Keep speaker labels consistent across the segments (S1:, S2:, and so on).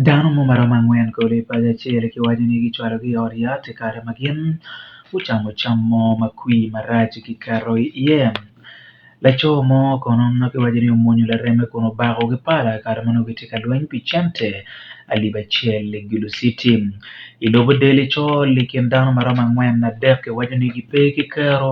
S1: Dano mo ma romo angwen kodi i paco acel kiwaco ni gicwalogi i ot yat i kare ma gin gucamo cam mo ma kwir marac giketo iye. Laco mo kono ma kiwaco ni omwonyo lareme kun obako ki pala i kare ma nongo gitye ka lweny pi cente alip acel i Gulu citi. I lobo del icol i kin dano ma romo angwen adek kiwaco ni gipe ki kero.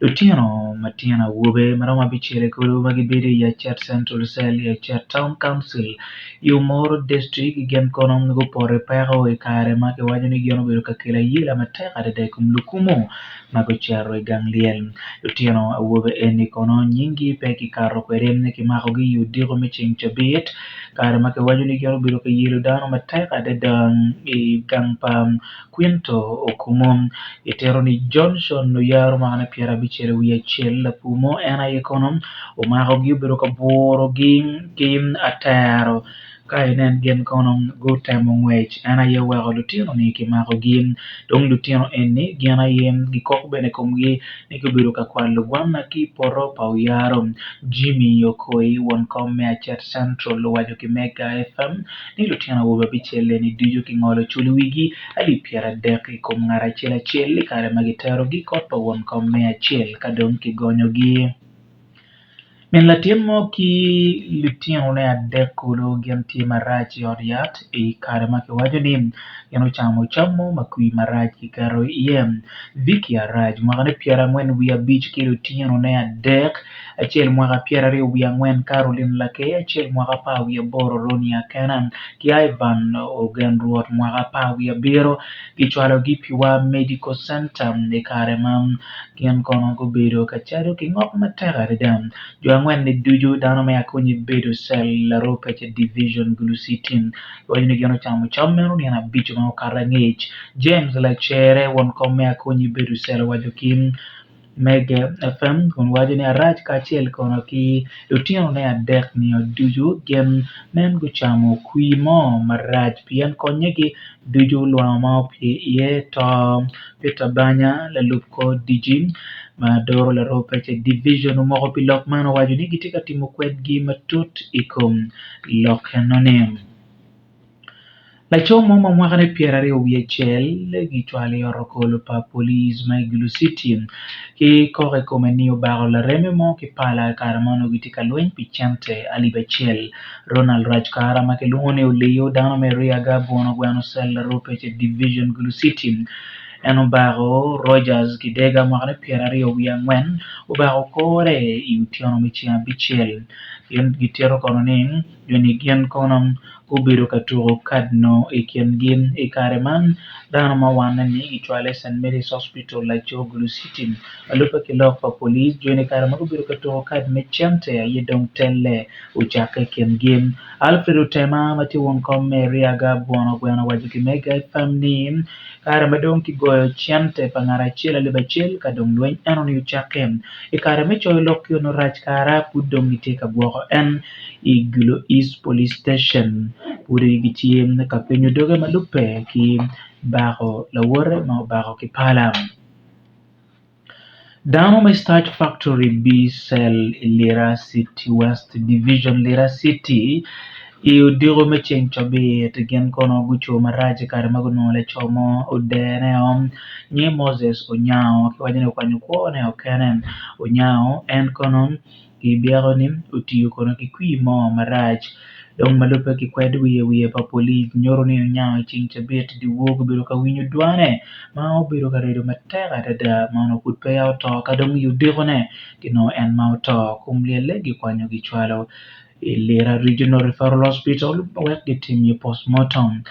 S1: Lutino matino awobe ma romo abicel i kulu ma gibedo i Yacet Central Cell, Yacet Town Council, i Omoro District gin kono gupoto i peko i kare ma kiwaco ni gin obedo ka kelo ayela matek adada i kom lukumo ma gucito i gang lyel. Lutino awobe eni kono nyinggi pe kikato kwede ni kimakogi i odiko me ceng cabit kare ma kiwaco ni gin obedo ka yelo dano matek adada i gang pa Quinto okumo, itito ni Johnson oyaro mwaka ne pyera abicel wiye acel lapur mo en aye kono omako gi obedo ka buro gi ki atero ka inen gin kono gutemo ngwec en aye oweko lutino ni ki mako gi dong lutino eni gin aye gi kok bene ikomgi ni ki obedo ka kwalo gwanna ki poto pa oyaro Jimmy Okoy won kom me Acet Central owaco ki Mega FM ni lutino awobe abicel-leni ducu kingolo cul i wigi alip pyeradek i kom ngat acel acel i kare ma kiterogi i kot pa won kom me acel ka dong kigonyogi. Min latin mo ki litinone adek kulu gin tye marac i ot yat i kare ma kiwaco ni gin gucamo cam mo ma kwir marac kiketo iye. Vicky Araj, mwakane pyerangwen wiye abic ki litinone adek, acel mwaka pyeraryo wiye angwen Carolyn Lakey acel mwaka apar wiye aboro Ronnie Akena ki Ivan Ogen Rwot mwaka apar wiye abiro kicwalo gi Piwa Medical Center i kare ma gin kono gubedo ka cado ki ngok matek adada jo angwen ni ducu dano me akonye bedo cell Laropece Division Gulucity kiwaco ni gin ocamo cam meno nino abico ma okato angec James Lacere won kom me akonye bedo cell owaco ki Mege Efem kun waco ni, Arac kacel kono ki lutinone adek-nia ducu gin nen gucamo kwir mo marac, pien konnyegi ducu lwango ma opye iye to. Peter Banya, lalub kor diji ma doro laroo pece Division omoko pi lok man, owaco ni gitye ka timo kwedgi matut i kom lok enoni. Laco mo ma mwakane pyeraryo wiye cel kicwalo i otokolo pa polic ma i Gulu citi ki kok i kome ni obako lareme mo ki pala i kare ma onongo gitye ka lweny pi cente alip acel. Ronald Rajkara ma kilwongo ni Oliyo dano me Riaga Abwono Gweno Cell Aropece Division Gulu citi en obako Rogers Kidega mwakane pyeraryo wiye angwen obako kore i otyeno me ceng abicel. Gin gitito kono ni. jo-ni gin kono gubedo ka tuko kad-nu i kingi. I kare man, dano ma wanne ni kicwalo i St. Mary's Hospital, laco Gulu City. Lubbe ki lok pa polic, jo-ni i kare ma gubedo ka tuko kad me cente aye dong telle ocakke i kingi. Alfred Otema ma tye won kom me Eriaga bwono gweno owaco ki me Guy Pham ni, Kare ma dong kigoyo cente pa ngat acel alip acel ka dong lweny eno-ni ocakke. I kare me coyo lok ki onongo rac kara pud dong gitye ka gwoko en. i Gulo East Police Station pudi gitye ka penyo doge ma lubbe ki bako lawote ma obako ki pala dano me Starch Factory B-cell i Lira City West Division Lira City i odiko me ceng cabit gin kono gucung marac i kare ma gunongo laco mo odereo nyinge Moses Onyango kiwaco ni okwanyo kwone o kene Onyango en kono I byeko-ni, otiyo kono ki kwir mo marac dong ma lubbe ki kwed wiye wiye pa polic nyuto ni oniango i ceng cabit dyewor gubedo ka winyo dwane ma obedo ka redo matek adada ma onongo pud peya oto ka dong i odikone ci nongo en ma oto kun lyelle gikwanyo gicwalo i Lira Regional Referral Hospital wek gitim iye postmortem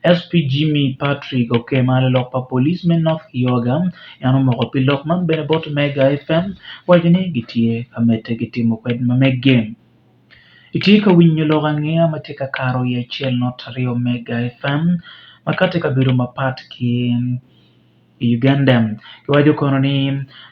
S1: SP Jimmy Patrick Okema lalok pa polic me North Kioga En omoko pi lok man bene bot omega FM waco ni gitye ka medde ki timo kwed ma meggi. Itye ka winyo lok angeya ma tye ka karo i acel nut aryo omega FM ma kati i kabedo mapat ki i Uganda. Giwaco kono ni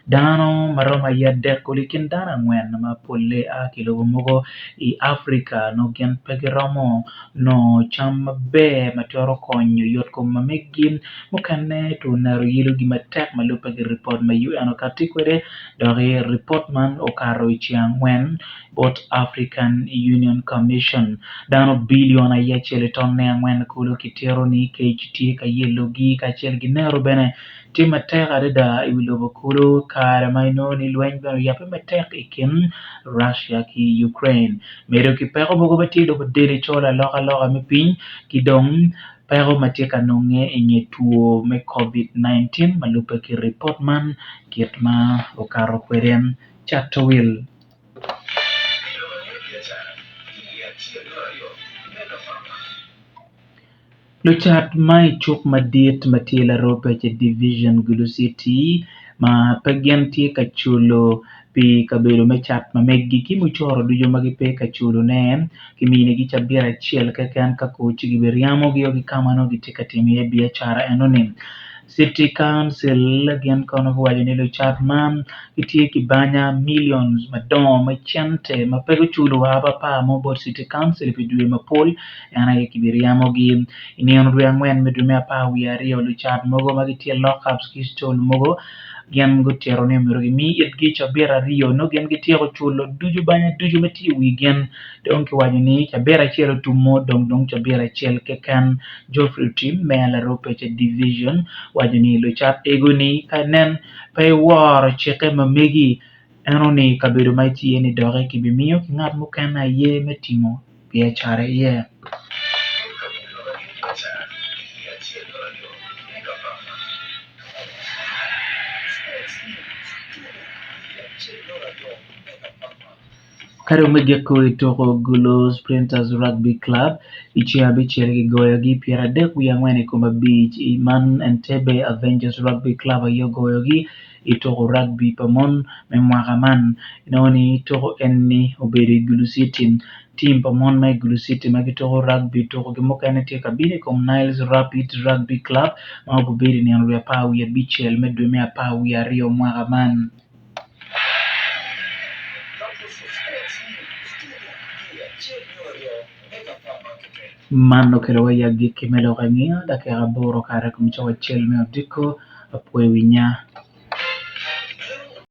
S1: dano ma romo aye adek kulu i kin dano angwen ma polle a ki lobo mogo i Africa nongo gin pe giromo. nongo cam maber ma twero konyo yot kom ma meggi, mukene two naro yelo gi matek ma lubbe ki ripot ma UN okati kwede, dok i ripot man okato i ceng angwen bot African Union Commission, dano bilion aye acel ki tonne angwen kulu kitito ni kec tye ka yelo gi kacel ki naro bene tye matek adada i wi lobo kulu kare ma inongo ni lweny bene oyabbe matek i kin Russia ki Ukraine. Medo ki peko mogo ma tye dok odel i col alokaloka me piny ki dong peko ma tye ka nonge i nge two me Covid-19 ma lubbe ki ripot man kit ma okato kwede. Chatowil. Lucat ma i cuk madit ma tye larope ki Division Gulu City ma pe gin tye ka culo pi kabedo me cat ma megi ki mucoro ducu ma gipe ka culone, kiminigi cabit acel keken ka ko ci gibiryamo gio ki ka ma nongo gitye ka timo iye biacara enoni. City Council gin kono guwaco ni lucat man gitye ki banya milion madongo me cente ma pe guculo wa papar mo bot City Council pi dwe mapol, en aye kibiryemo-gi. I nino dwe angwen me dwe me apar wiye aryo, lucat mogo ma gitye lockups ki stol mogo gin gutito ni myero gimi itgi cabit aryo nongo gin gityeko culo ducu banya ducu ma tye i wigin dong kiwaco ni cabit acel otum-o dong dong cabit acel keken. Geoffrey Tim me Alaropecha Division waco ni lucat ego-ni ka nen pe iworo cikke ma megi, eno ni kabedo ma itye iye-ni doki kibimiyo ki ngat mukene aye me timo biacara iye. Ka dong me giko i tuko Gouleau Sprinters Rugby Club i ceng abicel kigoyogi pyera adek wiye angwen i kom abic i man Entebbe Avengers Rugby Club aye ogoyogi i tuko rugby pa mon me mwaka man. Inongo ni tuko eni obedo i Gulu City. Tim pa mon ma i Gulu City ma gituko rugby tukogi mukene tye ka bino i kom Niles Rapid Rugby Club ma gubedo i nino lwe apar wiye abicel me dwe me apar wiye aryo mwaka man. Man okelo wa i agikki me lok angeya dakika aboro kare kun cok acel me odiko. Apwoyo winya.